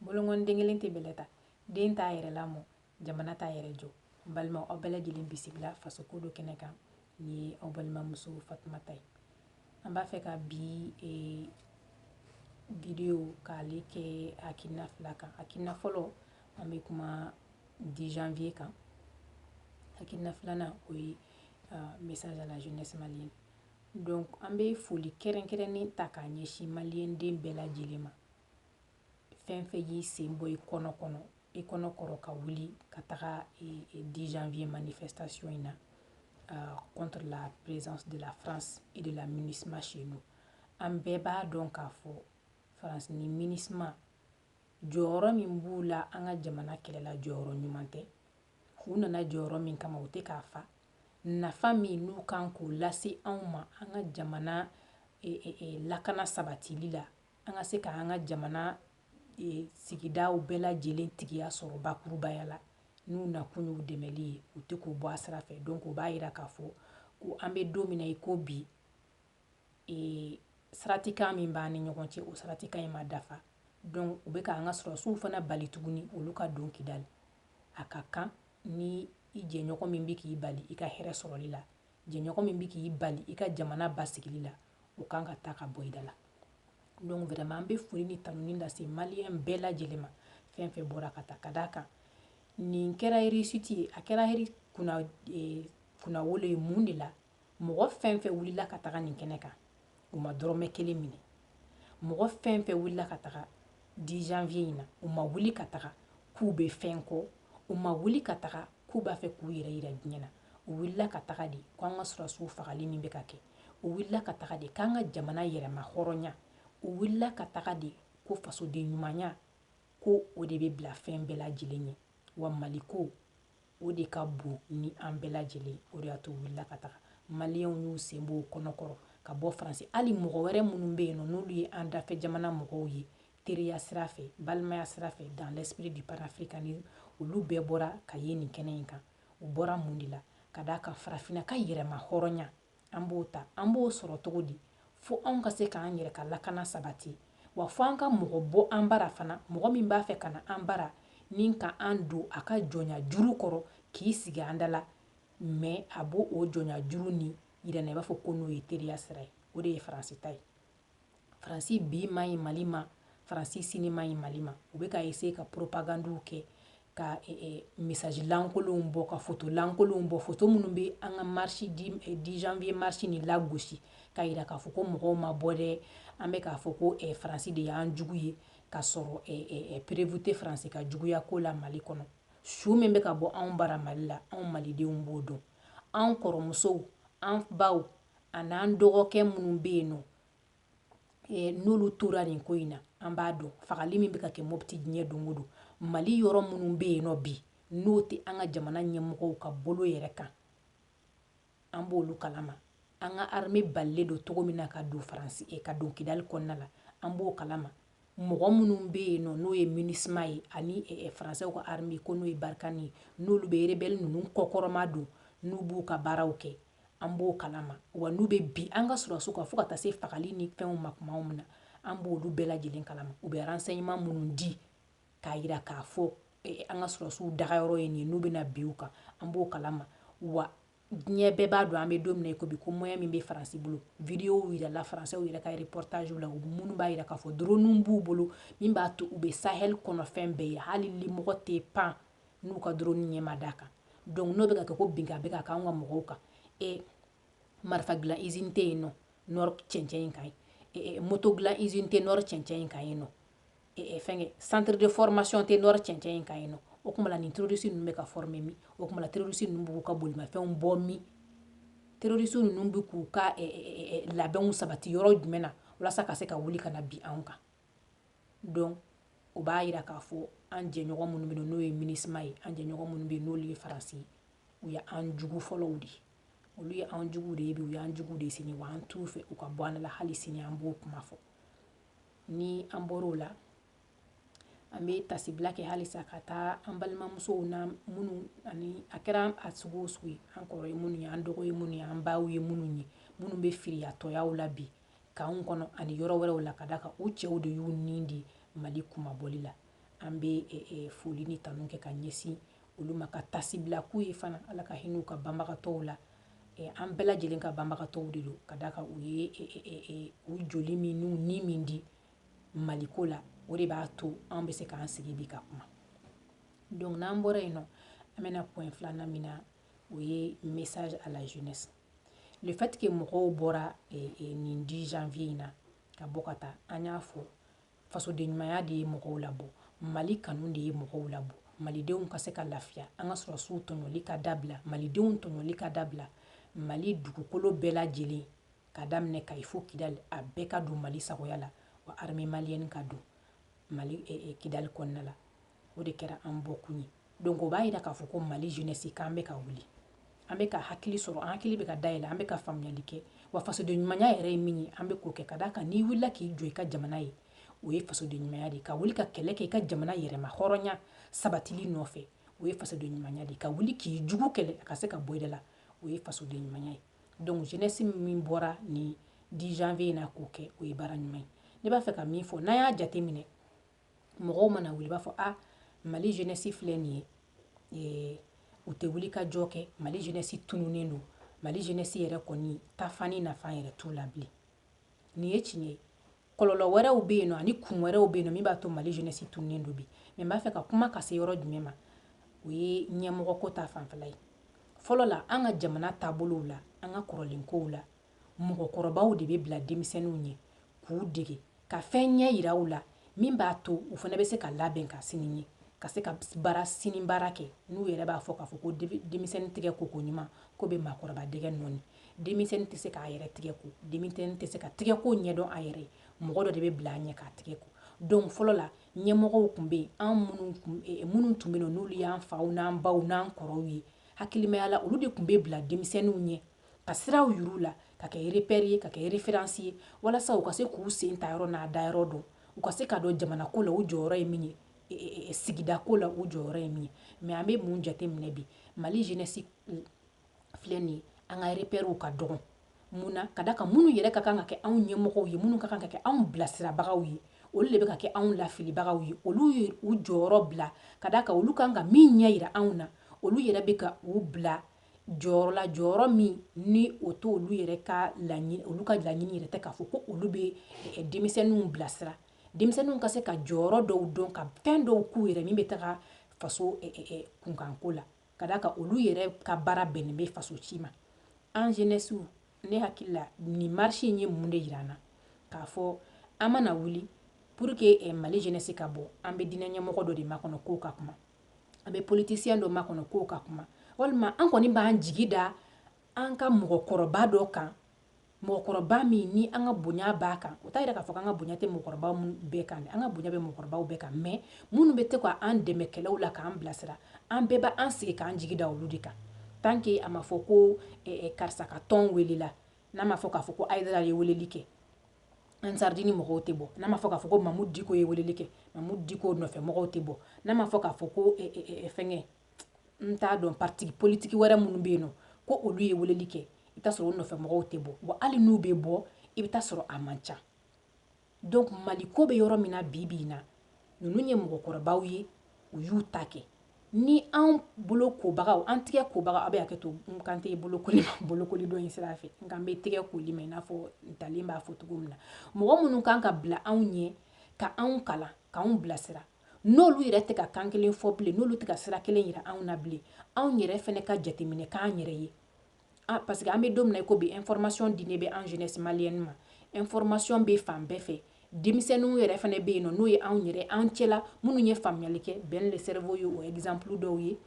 bolonkɔni den kelen tɛ bɛlɛ ta den t'a yɛrɛ lamɔ jamana t'a yɛrɛ jɔ n balima aw bɛɛ lajɛlen bisimila faso ko do kɛnɛ kan nin ye aw balimamuso fatumata ye an b'a fɛ ka bi e, vidéo k'ale kɛ hakilina fila kan hakilina fɔlɔ an bɛ kuma 10 janvier kan hakilina filanan o ye uh, message à la jeunesse malienne Donc an bɛ foli kɛrɛnkɛrɛnnen ta k'a ɲɛsin maliyɛnden bɛɛ lajɛlen ma fɛn fɛn y'i sen bɔ i kɔnɔ kɔnɔ i kɔnɔ kɔrɔ ka wuli ka taga 10 janvier manifestation in na euh, contre la présence de la France et de la MINUSMA chez nous an bɛɛ b'a dɔn k'a fɔ France ni MINUSMA jɔyɔrɔ min b'u la an ka jamana kɛlɛ la jɔyɔrɔ ɲuman tɛ u nana jɔyɔrɔ min kama u tɛ k'a fa nafa min n'u kan k'o lase anw ma an ka jamana e, e, e, lakana sabatili la an ka se ka an ka jamana sigidaw bɛɛ lajɛlen tigiya sɔrɔ bakurubaya la n'u nakun y'u dɛmɛli ye u tɛ k'o bɔ a sira fɛ donc o b'a jira k'a fɔ ko an bɛ don min na i ko bi saratikan min b'an ni ɲɔgɔn cɛ o saratikan in ma dafa donc u bɛ k'an ka sɔrɔsiw fana bali tuguni olu ka don kidali a ka kan ni jɛɲɔgɔn min bɛ k'i bali i ka hɛrɛ sɔrɔli la jɛɲɔgɔn min bɛ k'i bali i ka jamana basigili la o kan ka taa ka bɔ i da la donc vraiment an bɛ foli ni tanuni lase maliyɛn bɛɛ lajɛlen ma fɛn fɛn bɔra ka taa ka d'a kan nin kɛra réussite ye a kɛra kunnawolo ye mun de la mɔgɔ fɛn fɛn wulila ka taga nin kɛnɛ kan u ma dɔrɔmɛ kelen minɛ mɔgɔ fɛn fɛn wulila ka taga 10 janvier in na u ma wuli ka taga k'u bɛ fɛn kɔ u ma wuli ka taga k'u b'a fɛ k'u yɛrɛ yira diɲɛ na u wulila ka taga de ko an ka sɔrɔsiw fagali min bɛ ka kɛ u wulila ka taga de k'an ka jamana yɛrɛmahɔrɔnya u wulila ka taga de ko fasoden ɲumanya ko o de bɛ bila fɛn bɛɛ lajɛlen ɲɛ wa mali ko O de ka bon ni an bɛɛ lajɛlen ye. O de y'a to u wulila ka taga. Maliyɛnw y'u sen bɔ u kɔnɔ kɔrɔ ka bɔ Faransi. Hali mɔgɔ wɛrɛ minnu bɛ yen nɔ, n'olu ye an dafɛ jamana mɔgɔw ye, teriya sira fɛ, balimaya sira fɛ, dans l'esprit du panafricanisme, olu bɛɛ bɔra ka ye nin kɛnɛ in kan. U bɔra mun de la? Ka d'a kan farafinna ka yɛrɛmahɔrɔnya, An b'o ta an b'o sɔrɔ cogo di fo anw ka se k'an yɛrɛ ka lakana sabati wa fo an ka mɔgɔ bɔ an bara fana mɔgɔ min b'a fɛ ka na an bara ni ka an don a ka jɔnya juru kɔrɔ k'i sigi an da la mais a b'o o jɔnya juru nin yira an na i b'a fɔ ko n'o ye teriya sira ye o de ye faransi ta ye faransi bi man ɲi mali ma faransi sini man ɲi mali ma u bɛ ka eseye ka poropagandiw kɛ ka e, e, mesaji lankolonw bɔ ka foto lankolonw bɔ foto minnu bɛ an ka marisi dix janvier marisi nin lagosi k'a yira k'a fɔ ko mɔgɔw ma bɔ dɛ an bɛ k'a fɔ ko faransi de y'an jugu ye k'a sɔrɔ perevu tɛ faransi ka juguya ko la mali kɔnɔ su min bɛ ka bɔ anw bara mali la anw malidenw b'o dɔn anw kɔrɔmusow an baw an'an dɔgɔkɛ minnu bɛ yen nɔ n'olu tora nin ko in na an b'a dɔn fagali min bɛ ka kɛ mɔpiti diɲɛ don o don mali yɔrɔ minnu bɛ yen nɔ bi n'o tɛ an ka jamana ɲɛmɔgɔw ka bolo yɛrɛ kan an b'olu kalama an ka arme balilen don cogo min na ka don faransi eh, ka don kidali kɔnɔna la an b'o kalama mɔgɔ minnu bɛ yen nɔ n'o ye minisima ye ani eh, eh, faransɛw ka arme ko n'o ye barikani ye n'olu bɛ rebɛli ninnu kɔkɔrɔmadon n'u b'u ka baaraw kɛ an b'o kalama wa n'u bɛ bin an ka sɔrɔsiw kan fo ka taa se fagali ni fɛnw ma tuma min na an b'olu bɛɛ lajɛlen kalama u bɛ ransɛɲɛman minnu di k'a jira k'a fɔ eh, an ka sɔrɔsiw dagayɔrɔ ye nin ye n'u bɛna bin u kan an b'o kalama wa diɲɛ bɛɛ b'a dɔn an bɛ don min na i ko bi ko moyen min bɛ faransi bolo videow jirala faransɛw yɛrɛ ka reportagew la minnu b'a jira k'a fɔ droniw b'u bolo min b'a to u bɛ sahel kɔnɔfɛn bɛɛ ye hali limɔgɔ tɛ pan n'u ka droni ɲɛ ma d'a kan donc n'o bɛ ka kɛ ko binkan bɛ ka k'an ka mɔgɔw kan e marifa dilan izini tɛ yen nɔ nɔrɔ cɛncɛn in kan yen moto dilan izini tɛ nɔrɔ cɛncɛn in kan yen nɔ fɛnkɛ centre de formation tɛ nɔrɔ cɛncɛn in kan yen nɔ o tuma la nin terroriste ninnu bɛ ka former min o tuma la terroriste ninnu b'u ka bolimafɛnw bɔ min terroriste ninnu bɛ k'u ka labɛnw sabati yɔrɔ jumɛn na walasa ka se ka wuli ka na bin anw kan donc o b'a jira k'a fɔ an jɛɲɔgɔn minnu bɛ yen n'o ye minisima ye an jɛɲɔgɔn minnu bɛ yen n'olu ye faransi ye u ye an jugu fɔlɔw de ye olu ye an jugu de ye bi u y'an jugu de ye sini wa an t'u fɛ u ka bɔ an la hali sini an b'o kuma fɔ ni an bɔr'o la an bɛ tasibila kɛ halisa ka taa an balimamusow na minnu ani a kɛra a sugu o sugu ye an kɔrɔ ye minnu ye an dɔgɔ ye minnu ye an baw ye minnu ye minnu bɛ firiyatɔyaw la bi kan kɔnɔ ani yɔrɔ wɛrɛw la ka d'a kan u cɛw de y'u ni di mali kunmabɔli la an bɛ e, e, foli ni tanu kɛ ka ɲɛsin olu ma ka tasibila k'u ye fana ala ka hinɛ u ka banbagatɔw la e, an bɛɛ lajɛlen ka banbagatɔw de don ka d'a kan u ye e, u joli min n'u ni min di maliko la o de b'a to an bɛ se k'an sigi bi ka kuma donc n'an bɔra yen nɔ an bɛ na point filanan min na o ye message à la jeunesse le fait que mɔgɔw bɔra eh, eh, nin 10 janvier in na ka bɔ ka taa an y'a fɔ fasodenɲumanya de ye mɔgɔw labɔ mali kanu de ye mɔgɔw labɔ malidenw ka se ka lafiya an ka sɔrɔsiw tɔɲɔli ka dabila malidenw tɔɲɔli ka dabila mali dugukolo bɛɛ lajɛlen ka daminɛ kayi fo kidali a bɛɛ ka don mali sagoya la wa armée malienne ka don mali eh, eh, kidali kɔnɔna la o de kɛra an bɔkun ye donc o b'a yira k'a fɔ ko mali jeunesse k'an bɛ ka wuli an bɛ ka hakili sɔrɔ an hakili bɛ ka dayɛlɛ an bɛ ka faamuyali kɛ wa fasoden ɲumanya yɛrɛ ye min ye an bɛ k'o kɛ ka d'a kan n'i wulila k'i jɔ i ka jamana ye o ye fasoden ɲumanya de ye ka wuli ka kɛlɛ kɛ i ka jamana yɛrɛmahɔrɔnya sabatili nɔfɛ o ye fasoden ɲumanya de ye ka wuli k'i jugu kɛlɛ a ka se ka bɔ i da la o ye fasoden ɲumanya ye donc jeunesse min bɔra nin 10 janvier in na k'o kɛ o ye baara ɲuman ye ne b'a fɛ ka min fɔ n'an y'a jate minɛ mɔgɔw mana wuli b'a fɔ a ah, mali jeunesse filɛ nin ye ee u tɛ wulikajɔ kɛ mali jeunesse tununnen don mali jeunesse yɛrɛ kɔni tafani nafa yɛrɛ t'u la bilen nin ye tiɲɛ ye kɔlɔlɔ wɛrɛw bɛ yen nɔ ani kun wɛrɛw bɛ yen nɔ min b'a to mali jeunesse tununnen don bi mais n b'a fɛ ka kuma ka se yɔrɔ jumɛn ma o ye ɲɛmɔgɔ ko ta fanfɛla ye fɔlɔ la an ka jamana taabolow la an ka kɔrɔlen kow la mɔgɔkɔrɔbaw de bɛ bila denmisɛnninw ɲɛ k'u dege Ka fɛn ɲɛ yira u la min b'a to u fana bɛ se ka labɛn ka sini ɲɛ ka se ka baara sini baara kɛ n'u yɛrɛ b'a fɔ k'a fɔ ko denmisɛnnin tɛgɛ ko ko ɲuman ko bɛ maakɔrɔba dɛgɛ nɔɔni denmisɛnnin tɛ se k'a yɛrɛ tɛgɛ ko denmisɛnnin tɛ se ka tɛgɛ ko ɲɛdɔn a yɛrɛ ye mɔgɔ dɔ de bɛ bila a ɲɛ k'a tɛgɛ ko donc fɔlɔ la ɲɛmɔgɔw tun bɛ yen an minnu tun bɛ yen n'olu y'an faw n'an baw n'an kɔrɔw ye hakilimaya la olu de tun bɛ bila denmisɛnninw ɲɛ ka siraw yir'u la ka kɛ repère ye ka kɛ référence ye walasa u ka se k'u sen ta yɔrɔ n'a da yɔrɔ dɔn u ka se k'a dɔn jamana ko la u jɔyɔrɔ ye min ye e, e, e, sigida ko la u jɔyɔrɔ ye min ye mais an bɛ mun jate minɛ bi mali jeunesse filɛ nin ye an ka repèrew ka dɔgɔn mun na ka d'a kan minnu yɛrɛ ka kan ka kɛ anw ɲɛmɔgɔw ye minnu ka kan ka kɛ anw bilasirabagaw ye olu de bɛ ka kɛ anw lafilibagaw ye olu ye u jɔyɔrɔ bila ka d'a kan olu kan ka min ɲɛ yira anw na olu yɛrɛ bɛ ka u bila jɔyɔrɔ la jɔyɔrɔ min ni o to olu yɛrɛ ka laɲini olu ka laɲini yɛrɛ tɛ k'a fɔ ko olu bɛ eh, denmisɛnninw bilasira denmisɛnninw ka se ka jɔyɔrɔ dɔw dɔn ka fɛn dɔw k'u yɛrɛ min bɛ taga faso eh, eh, kunkanko la ka d'a kan olu yɛrɛ ka baara bɛnnen bɛ faso ci ma an jeunesse ne hakili la nin marche in ye mun de yira an na k'a fɔ an mana wuli pour que eh, mali jeunesse ka bɔ an bɛ diinɛ ɲɛmɔgɔ dɔ de makɔnɔ k'o ka kuma an bɛ politicien dɔ makɔnɔ k'o ka kuma walima an kɔni b'an jigi da an ka mɔgɔkɔrɔba dɔ kan mɔgɔkɔrɔba min ni an ka bonya b'a kan o t'a yira k'a fɔ an ka bonya tɛ mɔgɔkɔrɔbaw bɛɛ kan an ka bonya bɛ mɔgɔkɔrɔbaw bɛɛ kan mais minnu bɛ to k'an dɛmɛ kɛlɛw la k'an bilasira an bɛɛ b' an sigi k'an jigi da olu de kan tant que a ma fɔ ko eh, eh, karisa ka tɔn welela n'a ma fɔ k'a fɔ ko ayidara ye weleli kɛ ansardini mɔgɔw tɛ bɔ n'a ma fɔ k'a fɔ ko mamudu diko ye weleli kɛ mamudu diko nɔfɛ mɔgɔw tɛ bɔ n'a ma fɔ k'a fɔ ko eh, eh, eh, fɛngɛ n t'a dɔn parti politiki wɛrɛ minnu bɛ yen nɔ ko olu ye weleli kɛ i bɛ t'a sɔrɔ o nɔfɛ mɔgɔw tɛ bɔ wa hali n'u bɛ bɔ i bɛ t'a sɔrɔ a man ca donc maliko bɛ yɔrɔ min na bi bi in na ninnu ye mɔgɔkɔrɔbaw ye u y'u ta kɛ ni an bolo kobagaw an tɛgɛ kobaga aw bɛ hakɛ to n kan tɛ bolokoli bolokoli dɔ in sira fɛ n kan bɛ tɛgɛ koli ma i n'a fɔ ntalen b'a fɔ cogo min na mɔgɔ minnu kan ka bila anw ɲɛ ka anw kalan k'an bilasira n'olu yɛrɛ tɛ ka kan kelen fɔ bilen n'olu tɛ ka sira kelen yira anw na bilen anw yɛrɛ fɛnɛ ka jateminɛ k'an yɛrɛ ye Ah, parce que an bɛ don min na i ko bi information dilen bɛ an jeunesse malienne ma information bɛ fan bɛɛ fɛ denmisɛnninw yɛrɛ fana bɛ yen nɔ n'o ye anw yɛrɛ an cɛla minnu ye faamuyali kɛ Ben le cerveau ye o exemple dɔw ye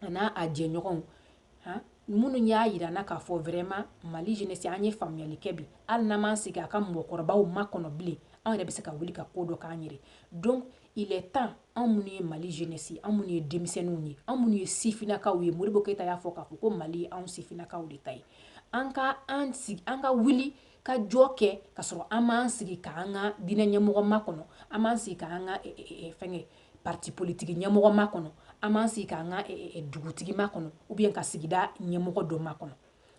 a n'a a jɛɲɔgɔnw han minnu y'a yira an na k'a fɔ vraiment mali jeunesse an ye faamuyali kɛ bi hali n'an m'an sigi a ka mɔgɔkɔrɔbaw makɔnɔ bilen anw yɛrɛ bɛ se ka wuli ka ko dɔ k'an yɛrɛ donc Il est temps anw minnu ye Mali jeunesse anw minnu ye denmisɛnninw ye, anw minnu ye sifinnakaw ye, Modibo Keyita y'a fɔ k'a fɔ ko Mali ye anw sifinnakaw de ta ye, an ka an sigi, an ka wuli ka jɔ kɛ ka sɔrɔ an m'an sigi k'an ka diinɛ ɲɛmɔgɔ makɔnɔ, an m'an sigi k'an ka fɛnkɛ parti politique ɲɛmɔgɔ makɔnɔ, an m'an sigi k'an ka dugutigi makɔnɔ ou bien ka sigida ɲɛmɔgɔ dɔ makɔnɔ,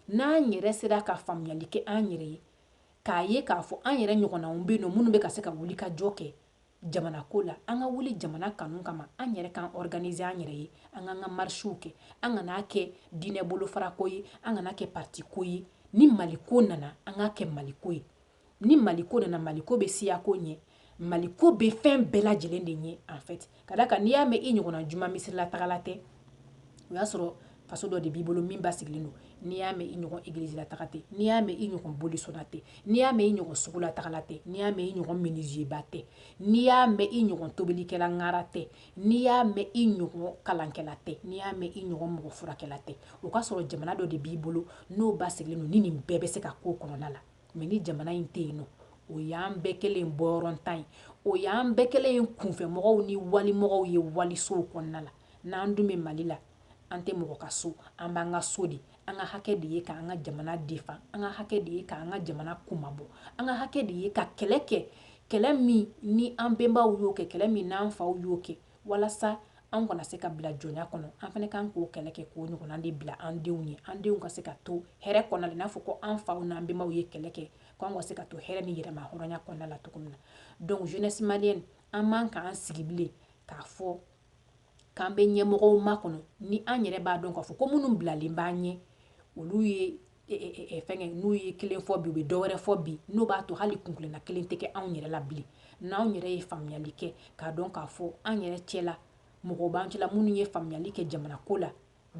n'an yɛrɛ sera ka faamuyali kɛ an yɛrɛ ye, k'a ye k'a fɔ an yɛrɛ ɲɔgɔnnaw bɛ yen nɔ minnu bɛ ka se ka wuli ka jɔ kɛ, jamana ko la an ka wuli jamana kanu kama an yɛrɛ k'an organiser an yɛrɛ ye an k'an ka marisiw kɛ an kan'a kɛ diinɛ bolofarako ye an kan'a kɛ parti ko ye ni maliko nana an k'a kɛ maliko ye ni maliko nana maliko bɛ siyako ɲɛ maliko bɛ fɛn bɛɛ lajɛlen de ɲɛ en fait ka d'a kan n'i y'a mɛn i ɲɔgɔnna juma misirilataagala tɛ o y'a sɔrɔ faso dɔ de b'i bolo min basigilen don n'i y'a mɛn i ɲɔgɔn egilizila taga tɛ n'i y'a mɛn i ɲɔgɔn bolisɔnna tɛ n'i y'a mɛn i ɲɔgɔn sugula tagala tɛ n'i y'a mɛn i ɲɔgɔn minizeba tɛ n'i y'a mɛn i ɲɔgɔn tobilikɛla ŋara tɛ n'i y'a mɛn i ɲɔgɔn kalankɛla tɛ n'i y'a mɛn i ɲɔgɔn mɔgɔ furakɛla tɛ o k'a sɔrɔ jamana dɔ de b'i bolo n'o basigilen don ni nin bɛɛ bɛ se ka k'o kɔnɔna la mais ni jamana in tɛ yen nɔ o y'an bɛɛ kɛlen ye bɔyɔrɔntan ye o y'an bɛɛ kɛlen ye kunfɛmɔgɔw ni walimɔgɔw ye walisow kɔnɔna la n'an dun bɛ mali la an tɛ mɔgɔ ka so an b'an ka so de an ka hakɛ de ye k'an ka jamana defan an ka hakɛ de ye k'an ka jamana kumabɔ an ka hakɛ de ye ka kɛlɛ kɛ kɛlɛ min ni an bɛnbaw y'o kɛ kɛlɛ min n'an faw y'o kɛ Walasa an kana se ka bila jɔnya kɔnɔ an fana kan k'o kɛlɛ kɛ k'o ɲɔgɔn de bila an denw ye an denw ka se ka to hɛrɛ kɔnɔ n'a fɔ ko an faw n'an bɛnbaw ye kɛlɛ kɛ k'an ka se ka to hɛrɛ ni yɛrɛmahɔrɔnya kɔnɔna la cogo min na donc jeunesse malienne an man k'an sigi bilen k'a fɔ k'an bɛ ɲɛmɔgɔw makɔnɔ ni an yɛrɛ b'a dɔn k'a fɔ ko minnu bilalen b'an ɲɛ olu ye e, e, e, e fɛngɛ n'u ye kelen fɔ bi u bɛ dɔ wɛrɛ fɔ bi n'o b'a to hali kunkilenna kelen tɛ kɛ anw yɛrɛ la bilen n'anw yɛrɛ ye faamuyali kɛ k'a dɔn k'a fɔ an yɛrɛ cɛla mɔgɔw b'an cɛla minnu ye faamuyali kɛ jamana ko la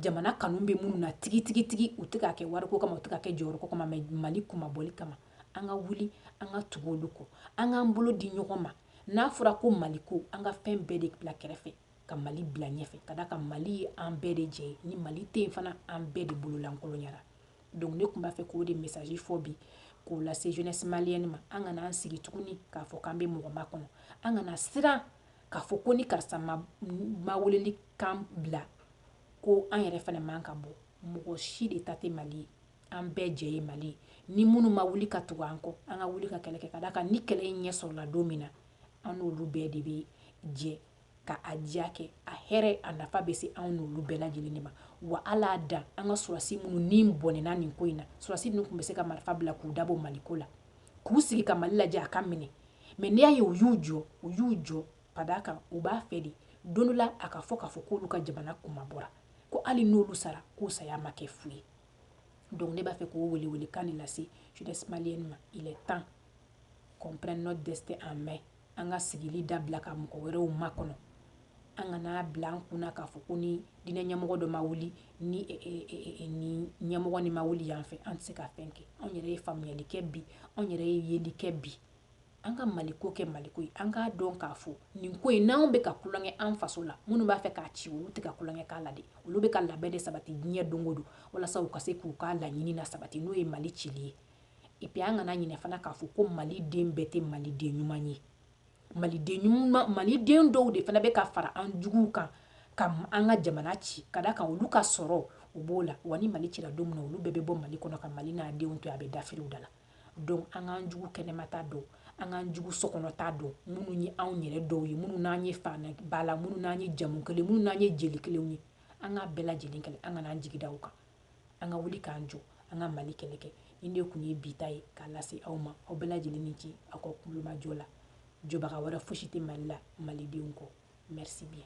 jamana kanu bɛ minnu na tigi tigi tigi u tɛ k'a kɛ wariko kama u tɛ k'a kɛ jɔyɔrɔko kama mais mali kunmabɔli kama an ka wuli an ka tugu olu kɔ an k'an bolo di ɲɔgɔn ma n'a fɔra ko mali ko an ka fɛn bɛɛ de bila kɛrɛfɛ ka mali bila ɲɛfɛ ka d'a kan mali ye an bɛɛ de jɛ ye ni mali tɛ yen fana an bɛɛ de bololankolonyara donc ne tun b'a fɛ k'o de message fɔ bi k'o lase jeunesse malienne ma an kana an sigi tuguni k'a fɔ k'an bɛ mɔgɔ makɔnɔ an kana siran k'a fɔ ko ni karisa ma ma weleli kan bila ko an yɛrɛ fana man ka bɔ mɔgɔ si de ta tɛ mali ye an bɛɛ jɛ ye mali ye ni minnu ma wuli ka tugu an kɔ an ka wuli ka kɛlɛ kɛ ka d'a kan ni kɛlɛ in ɲɛ sɔrɔla don min na an n'olu bɛɛ de bɛ jɛ ka a diya kɛ a hɛrɛ a nafa bɛ se anw n'olu bɛɛ lajɛlen de ma wa ala da an ka sɔrɔdasi minnu ni bɔnɛna nin ko in na sɔrɔdasi ninnu tun bɛ se ka marifa bila k'u dabɔ maliko la k'u sigi ka mali lajɛ a ka minɛ mais n'i y'a ye u y'u jɔ u y'u jɔ ka d'a kan u b'a fɛ de don dɔ la a ka fɔ k'a fɔ k'olu ka jamana kunmabɔra ko hali n'olu sara k'u saya ma kɛ fu ye donc ne b'a fɛ k'o welewelekan de lase jeunesse malienne ma il est temps qu'on prenne notre destin en main an ka sigili dabila ka mɔgɔ wɛrɛw makɔnɔ an kan'a bila an kun k'a fɔ ko ni diinɛ ɲɛmɔgɔ dɔ ma wuli ni ɲɛmɔgɔ nin ma wuli yan fɛ an tɛ se ka fɛn kɛ anw yɛrɛ ye faamuyali kɛ bi anw yɛrɛ ye yeli kɛ bi an ka mali ko kɛ mali ko ye an k'a dɔn k'a fɔ nin ko in n'an bɛ ka tulonkɛ an faso la minnu b'a fɛ k'a ci olu tɛ ka tulonkɛ k'a la dɛ olu bɛ ka labɛn de sabati diɲɛ don o don walasa u ka se k'u ka laɲini na sabati n'o ye mali cili ye et puis an kana ɲinɛ fana k'a fɔ ko maliden bɛɛ tɛ maliden ɲuman ye maliden ɲuman maliden dɔw de fana bɛ ka fara an juguw kan ka an ka jamana ci ka d'a kan olu ka sɔrɔw b'o la wa ni mali cira don min na olu bɛɛ bɛ bɔ mali kɔnɔ ka mali n'a denw to a bɛ dafiriw da la donc an k'an jugu kɛnɛmata dɔn an k'an jugu sokɔnɔta dɔn minnu ye anw yɛrɛ dɔw ye minnu n'an ye fana ba la minnu n'an ye jamu kelen minnu n'an ye jeli kelenw ye an k'a bɛɛ lajɛlen kɛlɛ an kana an jigi da u kan an ka wuli k'an jɔ an ka mali kɛlɛ kɛ nin de tun ye bi ta ye k'a lase aw ma aw bɛɛ lajɛlen ni ce aw ka tulomajɔ la jɔbaga wɛrɛ fosi tɛ mali la malidenw kɔ merci bien